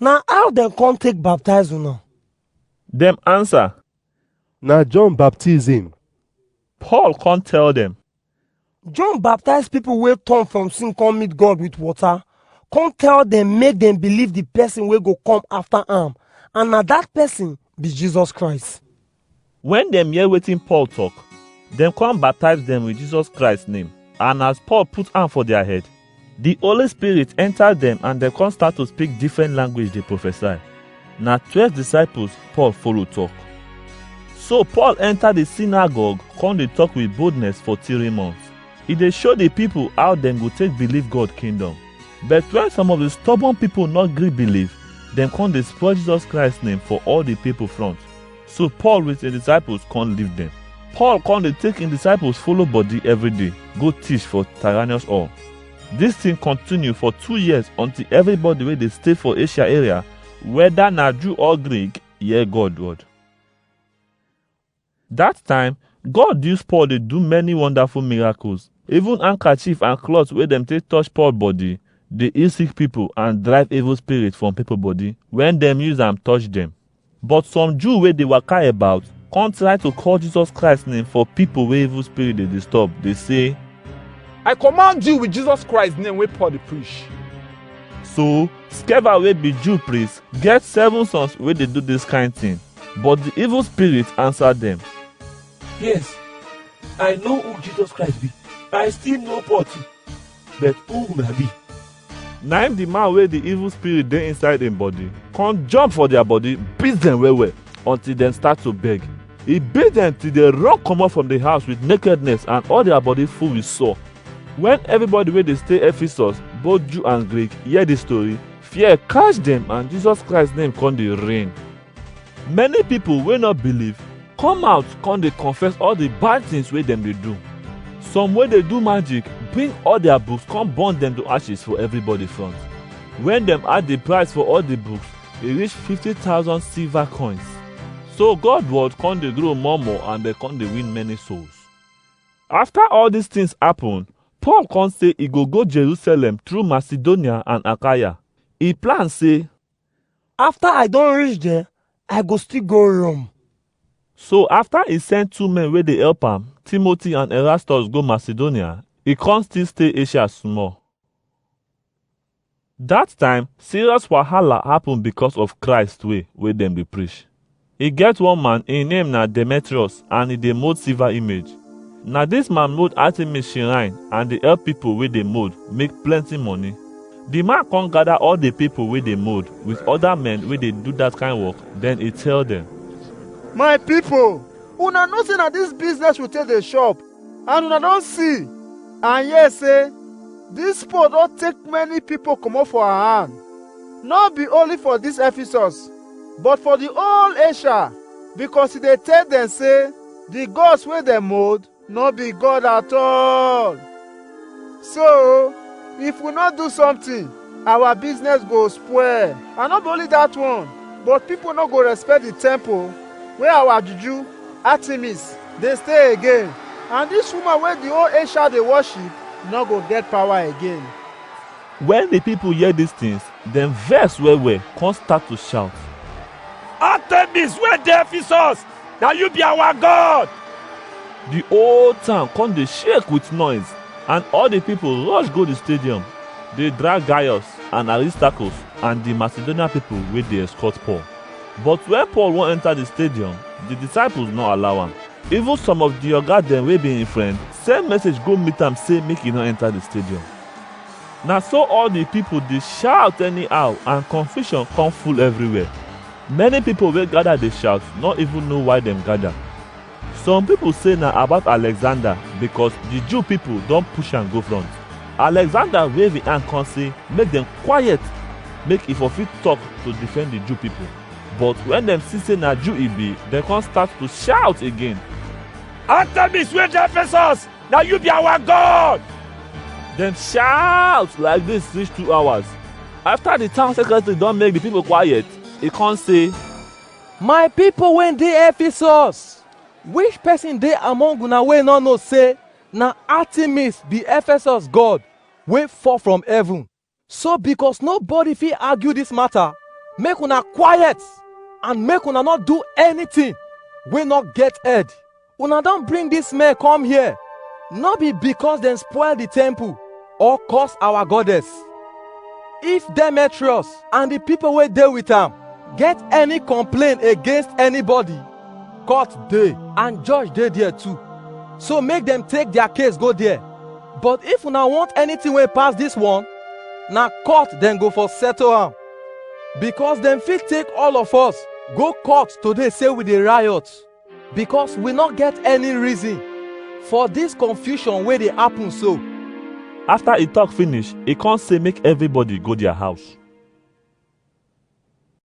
Na how dem come take baptize una? Dem answer, Na John baptism. Paul come tell dem, John baptize people wey turn from sin come meet God with water, come tell dem make dem believe the person wey go come after am, and na that person be Jesus Christ. Wen dem hear wetin Paul talk, dem come baptize dem with Jesus Christ name. And as Paul put hand for their head, the Holy Spirit enter them and dem come start to speak different language dey prophesy. Na twelve disciples Paul follow talk. So Paul enter the synagogue come dey talk with boldness for three months. E dey show the people how dem go take believe God kingdom. But when some of the stubborn people no gree believe, dem come dey spoil Jesus Christ name for all the people front. So Paul with his disciples come leave them. Paul come dey take his disciples follow body every day go teach for Tyrannus all. This thing continue for two years until everybody wey dey stay for Asia area, whether na Jew or Greek, hear God word. That time, God use Paul dey do many wonderful miracles. Even handkerchief and cloth wey dem take touch Paul body dey heal sick people and drive evil spirit from people body when dem use am touch them. But some Jew wey dey waka about come try to call Jesus Christ name for people wey evil spirit dey disturb, dey say, I command you with Jesus Christ name wey Paul dey preach. So, Sceva wey be Jew priest get seven sons wey dey do this kind thing. But the evil spirit answer them. Yes, I know who Jesus Christ be. I still know Paul too. But who una be? na im the man wey the evil spirit dey inside im body come jump for their body beat them well well until dem start to beg e beat them till they run comot from the house with nakedness and all their body full with sore when everybody wey dey stay ephesus both jew and greek hear this story fear catch them and jesus christ name come dey reign Many pipo wey no believe come out come dey confess all di bad tins wey dem dey do. Some wey dey do magic bring all dia books come burn dem to ashes for everybody front. Wen dem add di price for all di books, e reach fifty thousand silver coins. So God word come dey grow more more and dem come dey win many souls. After all dis tins happen, Paul come say e go go Jerusalem through Macedonia and Achaia. E plan say, After I don reach there, I go still go Rome. So after he send two men wey dey help am, Timothy and Erastus go Macedonia, he come still stay Asia small. That time, serious wahala happen because of Christ way wey dem dey preach. E get one man, im name na Demetrius and e dey mold silver image. Na dis man mold Artemis shrine and dey help pipo wey dey mold make plenty money. Di man come gather all di pipo wey dey mold with other men wey dey do dat kind work, den e tell dem. My pipo, una know sey na dis business we take dey chop, and una don see and hear sey dis poor don take many pipo comot for our hand, nor be only for dis Ephesus. but for di whole Asia because e dey tell dem say di gods wey dem mold no be God at all. So, if we no do something, our business go spoil. And no be only that one, but people no go respect the temple where our juju, Artemis, dey stay again. And this woman wey the whole Asia dey worship no go get power again. Wen di pipul hear dis tins, dem vex well-well kon stat to shaut, Artemis wey dey Efesus, na yu bi awa god! Di whole town kon dey shake wit noise, and all di pipul rosh go di stadium, dey drag Gaius and Aristarkus and di Masedonian pipul wey dey eskot Paul. But wen Paul won enta di stadium, di disaipuls nor allow am. Even som of di oga dem wey bi en frend, send mesej go mit am sey make e nor enta di stadium. Na so all the people dey shout anyhow and confusion come full everywhere. Many people wey gather dey shout no even know why dem gather. Some people say na about Alexander because the Jew people don push am go front. Alexander wave him hand come say make dem quiet make he for fit talk to defend the Jew people. But when dem see say na Jew he be, dem come start to shout again. Artemis wey dey Ephesus na you be our god dem shout like dis reach two hours after di town secretary don make di pipo quiet e con say my pipo wey dey ephesus which person dey among una wey no know say na artemis be ephesus god wey fall from heaven So because nobody fit argue this matter, make una quiet and make una not do anything wey not get head. Una don bring this man come here, no be because dem spoil the temple or curse our goddess. If Demetrius and the people wey dey with am get any complaint against anybody, court dey and judge dey there too so make dem take their case go there but if una want anything wey pass this one na court dem go for settle am because dem fit take all of us go court today say we dey riot because we no get any reason for this confusion wey dey happen so. After he talk finish, he come say make everybody go their house.